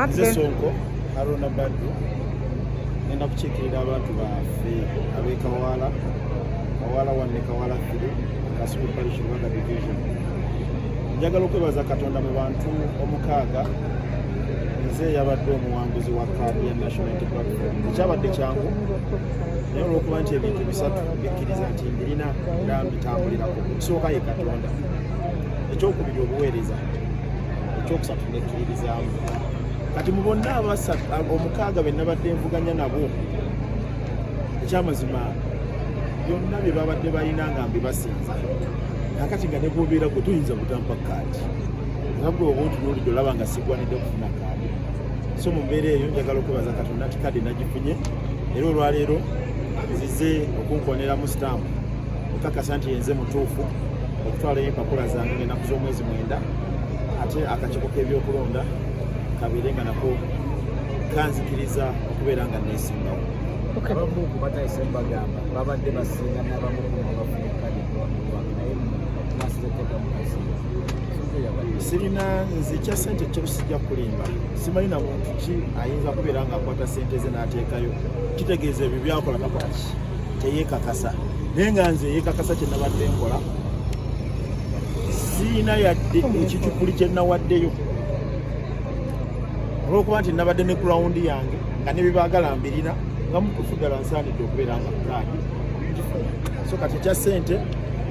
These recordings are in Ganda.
nze sonko haruna baddu ngenda kukiikirira abantu baffe abekawaala kawaala wanne kawaala firi kasuku parish rwanda division njagala okwebaza katonda mu bantu omukaaga nze yabadde omuwanguzi wa kaadi ya national unity platform ekyabadde kyangu naye olwokuba nti ebintu bisatu bikkiriza nti mbirina era mbitambulirako ekisooka ye katonda ekyokubiri obuweereza ekyokusatu kati mu bonna abasatu omukaaga be nabadde nvuganya nabo ekyamazima byonna bye babadde balina nga mbibasinza nakati nga negwobeera gwe tuyinza kutampa kaadi nga gwe oba otunuulidde olaba nga sigwanidde okufuna kaadi so mu mbeera eyo njagala okwebaza katonda nti kaadi nagifunye era olwaleero zize okunkoneramu stamp okakasa nti yenze mutuufu okutwalayo empapula zange ngenaku z'omwezi mwenda ate akakiiko k'ebyokulonda kabeere nga nako kanzikiriza okubeera nga neesimbawo abamu ku batayise bagamba babadde basinga nabamu sirina nze kya sente kyo sijja kulimba simanyi na muntu ki ayinza kubeera nga akwata sente ze n'ateekayo kitegeeza ebyo byakola nakwaki teyekakasa naye nga nze yekakasa kye nabadde nkola siina yadde ekicupuli kye nawaddeyo olwokuba nti nabadde ne kurawundi yange nga nebibaagala mbirina nga mutufu ddala nsaanidde okubeera nga pulaani ngifuna so kati ekya ssente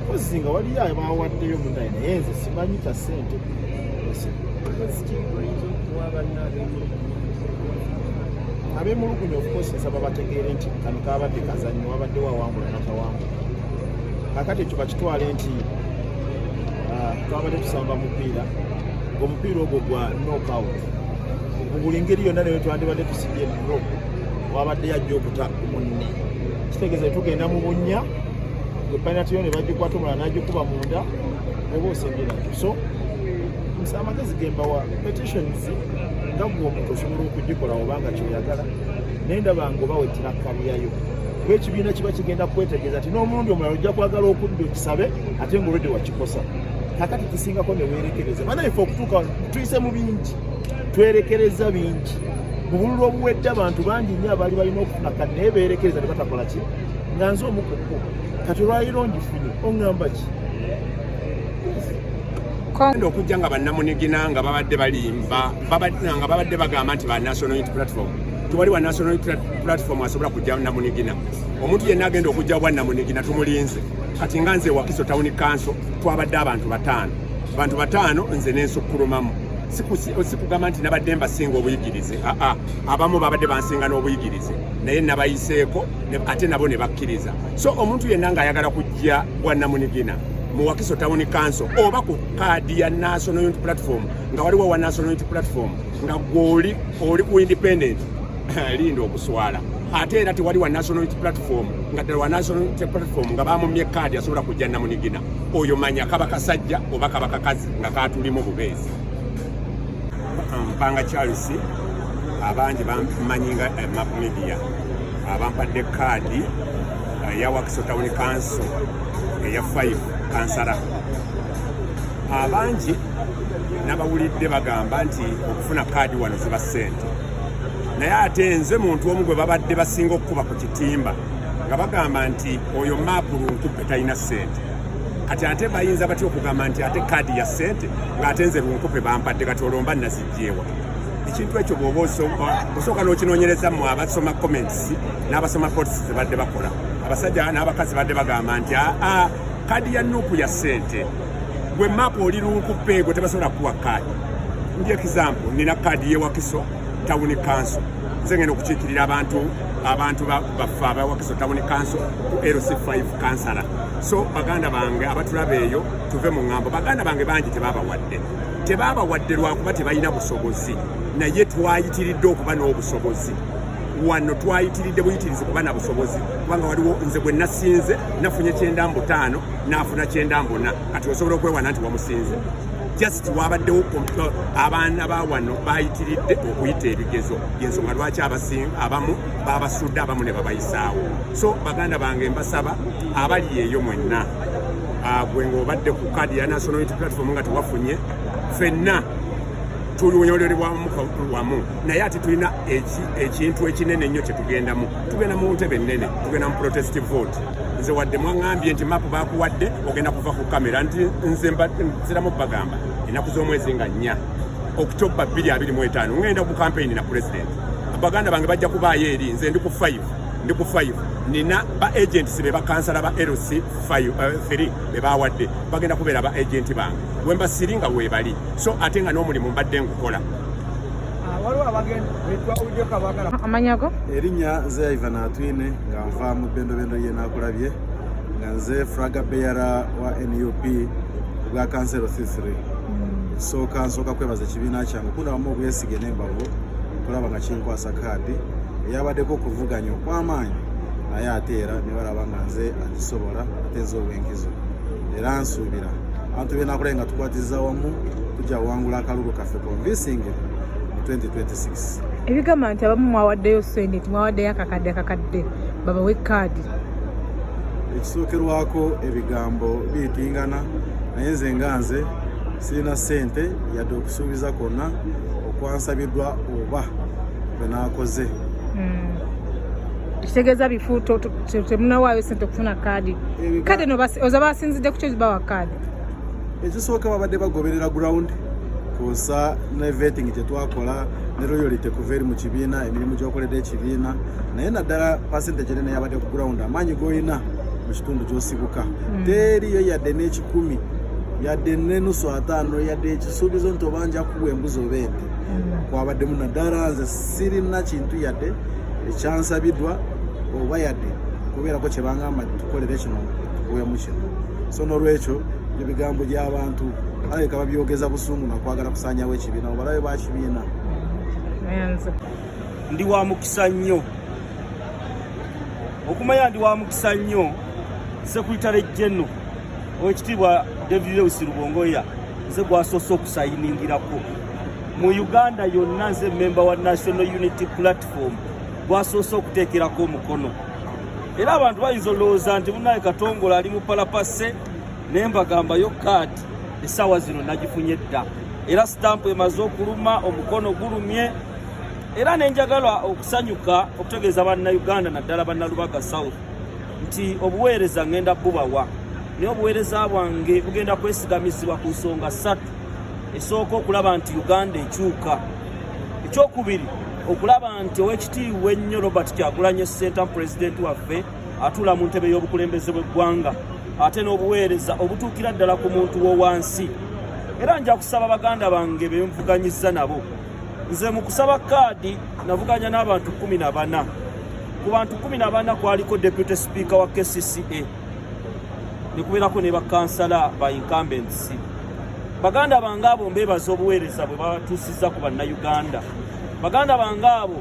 mpozi nga waliyo abawaddeyo munaye naye nze simanyi kya ssente abemulugunya okukozesa babategeere nti kano kabadde kazanyo wabadde wawangula nakawangula kakati ekyo bakitwale nti ah, twabadde tusamba mupiira omupiira ogwo gwa nokout mu buli ngeri yonna naye twandibadde tusibye dro wabadde yajja okuta munne kitegeeza tugenda mu bunnya epanatiyo ne bagikwata omulala nagikuba munda oba osembera so nsa amagezi gembawa petitions nga gwe omuntu osobola okugikola obanga kyoyagala naye ndaba ngaoba wetira kabuyayo kuba ekibiina kiba kigenda kukwetegeeza nti n'omulundi omulala ojja kwagala okudda okisabe ate ngaolwedde wakikosa kakati kisingako newerekereza banaife okutuuka tuyise mu bingi twerekereza bingi mubululu obuwedde abantu bangi nnyo abaali balina okufuna kati naye beerekereza nebatakola ki nga nze omukuku kati olwaliro ngifunye oŋŋamba ki enda okujja nga bannamunigina nga babadde balimba nga babadde bagamba nti ba national unit platform tewali wa national platform asobola kujja namunigina omuntu yenna agenda okujja bwa namunigina tumulinze kati nga nze wakiso tawuni kanso twabadde abantu bataano abantu bataano nze nensukulumamu sikugamba nti nabadde mbasinga obuyigirize aa abamu babadde bansinga n'obuyigirize naye nabayiseeko ate nabo ne bakkiriza so omuntu yenna ng'ayagala kujja bwa namunigina mu wakiso tawuni kanso oba ku kaadi ya national unity platform nga waliwo wa national unity platform nga gwoli oli ku independent linda okuswala ate era tewali wa national platform nga ddala wa national platform nga bamumye kaadi asobola kujja namunigina oyo manya kaba kasajja oba kaba kakazi nga katulimu bubeezi mpanga charles abangi bamanyi nga eh, map media abampadde kaadi eh, ya wakiso town council eya 5 kansala abangi nabawulidde bagamba nti okufuna kaadi wano ziba ssente naye ate nze muntu omu gwe babadde basinga okukuba ku kitimba nga bagamba nti oyo maapu lunkupe talina ssente kati ate bayinza batya okugamba nti ate kaadi ya ssente ng'ate nze lunkupe bampadde kati olwomba nazijjeewa ekintu ekyo bwoba osooka n'okinonyereza mu abasoma comments n'abasoma pots zebadde bakola abasajja n'abakazi badde bagamba nti aa ah, ah, kaadi ya nuupu ya ssente gwe map oli lunkupeego tebasobola kuwa kaadi ndi example nina kaadi yewakiso tawuni kanso nze ngenda okukiikirira abantu abantu baffe abawakiso tawuni kanso ku lc5 kansala so baganda bange abatulaba eyo tuve mu ŋŋambo baganda bange bangi tebabawadde tebabawadde lwakuba tebalina busobozi naye twayitiridde okuba n'obusobozi wano twayitiridde buyitirizi kuba na busobozi kubanga waliwo nze gwe nasinze nafunye kyenda mbu taano n'afuna kyenda mbona kati osobola okwewana nti wamusinze just wabaddewo abaana ba wano bayitiridde okuyita ebigezo yensonga lwaki abamu babasudde abamu ne babayisaawo so baganda bange mbasaba abali eyo mwenna ah, gwe ngaobadde ku kadi ya national unity platform nga tewafunye fenna tunyolelebwamu wamu naye ati tulina ekintu ekinene ennyo kyetugendamu tugenda mu ntebe ennene tugenda mu protest vote nze wadde mwaŋambye nti mapu bakuwadde ogenda kuva ku kamera nti nze nziramu bagamba ennaku z'omwezi nga nnya okutobba 225 ŋŋenda ku kampeyini na pulezidenti baganda bange bajja kubaayo eri nze ndi ku 5 ndi ku 5 nina ba agents be bakansala ba lc 3 eh, be bawadde bagenda kubeera ba agenti bange wembasiringa webali so ate nga n'omulimu mbadde ngukola amanyago erinya nze yaiva natwine nga nva mu bendobendo ye nakulabye nga nze fraga beyara wa nup bwa kansero c3 nsooka hmm. nsooka kwebaza ekibiina kyange kundabamu obwesige nembavu okulaba nga kinkwasa kaadi eyabaddeko okuvuganya okwamaanyi naye ate era nebalaba nga nze agisobola ate nze obwenkizo era nsuubira abantu benakulabye nga tukwatiza wamu tujja wangula akalulu ebigamba nti abamu mwawaddeyo sente nti mwawaddeyo akakadde akakadde babawe kaadi ekisookerwako ebigambo biyitingana naye nze nga nze sirina sente yadde okusuubiza kwonna okwansabiddwa oba bwe naakoze hmm. kitegeeza bifu temunawaayo sente okufuna kaadi kade oza basinzidde ku kyo zibawa kaadi ekisooka babadde bagoberera ground kwosa ne vetting gyetwakola ne royalite kuva eri mu kibiina emirimu gyokoledde ekibiina naye naddala pasente gyene neyabadde ku ground amaanyi golina mu kitundu gyosibuka hmm. teriyo yadde n'ekikumi yadde nenusu ataano yadde ekisuubizo nti oba nja kuwa embuzi oba ente hmm. kwabaddemu naddala nze sirina kintu yadde ekyansabidwa oba yadde kubeerako kyebangamba tukolere kino bwemu kino so nolwekyo ebigambo by'abantu alabika babyogeza busungu nakwagala kusanyawo ekibiina obalabe bakibiina ndi wa mukisa nnyo okumanya ndi wa mukisa nnyo sekuritale jeno owekitiibwa david lewis lubongoya nze gwasoose okusayiningirako mu uganda yonna nze memba wa national unity platform gwasoose okuteekerako omukono era abantu bayinza olowooza nti munaye katongola ali mu palapase naye mbagambayo kaati essaawa zino nagifunye dda era sitampu emaze okuluma omukono gulumye era nenjagala okusanyuka okutegeeza bannauganda naddala bannalubaga south nti obuweereza ngenda bubawa naye obuweereza bwange bugenda kwesigamizibwa ku nsonga ssatu esooka okulaba nti uganda ekyuka ekyokubiri okulaba nti owekitiibwa ennyo robert kyagulanye sentamu pulezidenti waffe atuula mu ntebe y'obukulembeze bw'eggwanga ate n'obuweereza obutuukira ddala ku muntu wowansi era nja kusaba baganda bange benvuganyiza nabo nze mu kusaba kaadi navuganya n'abantu kumi na bana ku bantu kumi na bana kwaliko deputy speaker wa kcca nekubeerako ne bakansala ba incumbents baganda bange abo mbeebaza obuweereza bwe batuusizza ku bannayuganda baganda bange abo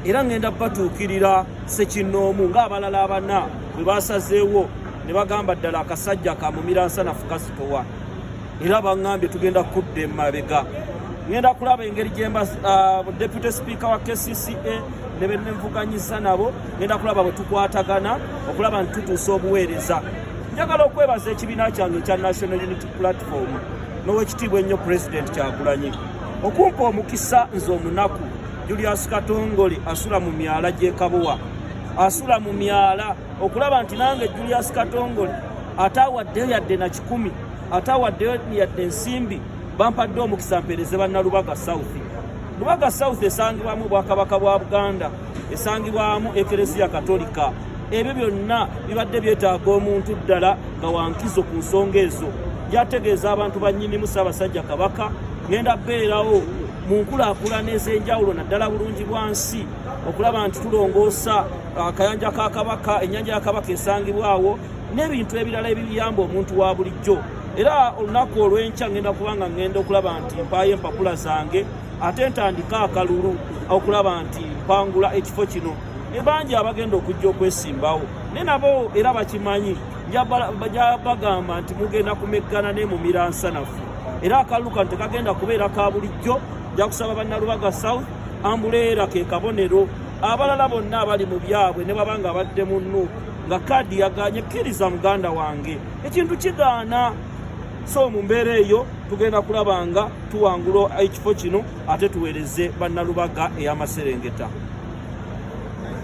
era ŋŋenda batuukirira sekinnoomu ng'abalala abana bwe baasazeewo ne bagamba ddala akasajja kamumiransanafu kasitowa era bangambye tugenda kudda emabega ngenda kulaba engeri gyemba uh, deputy speaker wa kcca ne benenvuganyiza nabo ngenda kulaba bwe tukwatagana okulaba nti tutuusa obuweereza njagala okwebaza ekibiina kyange ekya national unity platform n'owekitiibwa ennyo president kyagulanyi okumpa omukisa nze omunaku julius katongole asula mu myala gyekabowa asula mu myala okulaba nti nange julius katongole ataawaddeyo yadde na kikumi ate awaddeyo yadde ensimbi bampadde omukisa mpeereze bannalubaga south lubaga south esangibwamu obwakabaka bwa buganda esangibwamu ekereziya katolika ebyo byonna bibadde byetaaga omuntu ddala nga wankizo ku nsonga ezo byategeeza abantu bannyinimu ssaabasajja kabaka ngenda beerawo mu nkulakulana ez'enjawulo naddala bulungi bwa nsi okulaba nti tulongoosa akayanja uh, ka kabaka ennyanja ya kabaka esangibwawo n'ebintu ebirala ebiyamba omuntu wa bulijjo era olunaku olw'enkya ngenda kubanga ngenda okulaba nti mpaayo empapula zange ate ntandika akalulu okulaba nti mpangula ekifo kino ebangi abagenda okujja okwesimbawo ne nabo era bakimanyi jabagamba nti mugenda kumeggana ne mu miransanafu era akalulu kano tekagenda kubeera ka bulijjo jakusaba bannalubaga south ambuleera ke kabonero abalala bonna abali mu byabwe ne babanga abadde mu nuuku nga kaadi yaganye kkiriza muganda wange ekintu kigaana so mu mbeera eyo tugenda kulaba nga tuwangula ekifo kino ate tuweereze bannalubaga ey'amaserengeta